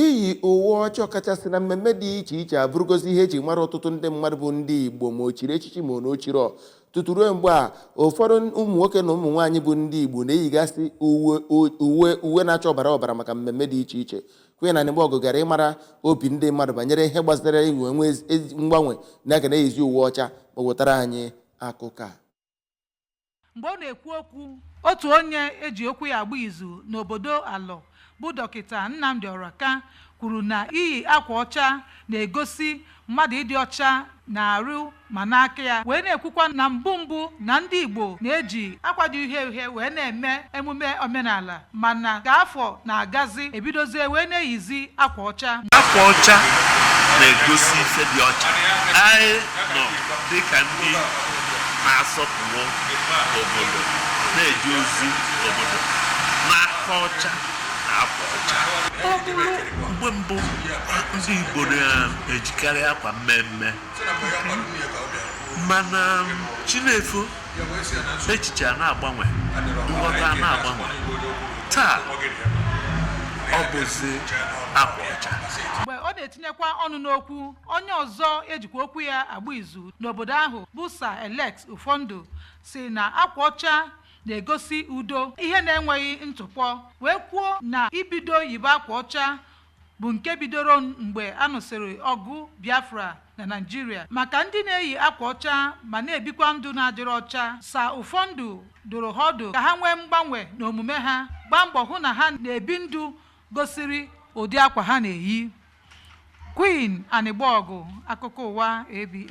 Iyi uwe ọcha ọkachasị na mmemme dị iche iche abụrụgozi ihe e ji mara ọtụtụ ndị mmadụ bụ ndị Igbo ma o chiri echichi ma o chighị. Tutu ruo mgbe a, ụfọdụ ụmụ nwoke na ụmụ nwaanyị bụ ndị Igbo na-eyigasị uwe na-acha ọbara ọbara maka mmemme dị iche iche. Queen Anịgbọgụ gara ịmara obi ndị mmadụ banyere ihe gbasara inwe mgbanwe na-aga na-eyizi uwe ọcha ma wetara anyị akụkọ a. mgbe ọ na-ekwu okwu otu onye e ji okwu ya agba izu n'obodo alọ bụ dọkịta nnamdị ọraka kwuru na iyi akwa ọcha na-egosi mmadụ ịdị ọcha n'arụ ma n'aka ya wee na-ekwukwa na mbụ mbụ na ndị igbo na-eji akwa dị uhie uhie wee na-eme emume omenala Mana ka afọ na-agazi, e bidozie wee na-eyizi akwa ọcha. Akwa ọcha na-egosi ife dị ọcha. Anyị nọ dịka ndị na-asọpụrụ obodo, na-eje ozi obodo n'aka ọcha na akwa ọcha. Ọ bụrụ mgbe mbụ ndị Igbo na-ejikarị akwa mmee mmee, mana chi na-efo echiche a na-agbanwe nghọta a na-agbanwe taa ọ bụzi akwa ọcha mgbe ọ na-etinyekwa ọnụ n'okwu onye ọzọ e jikwa okwu ya agba izu n'obodo ahụ bụ sa alex ụfọndụ sị na akwa ọcha na-egosi udo ihe na-enweghị ntụpọ wee kwuo na ibido yibe akwa ọcha bụ nke bidoro mgbe a nụsịrị ọgụ Biafra na Naịjirịa maka ndị na-eyi akwa ọcha ma na-ebikwa ndụ na-adịghị ọcha Sa Ụfọndụ dụrụ ha ọdụ ka ha nwee mgbanwe n'omume ha gbaa mbọ hụ na ha na-ebi ndụ gosiri ụdị akwa ha na-eyi Queen Anịgbọgụ akụkọ ụwa ABS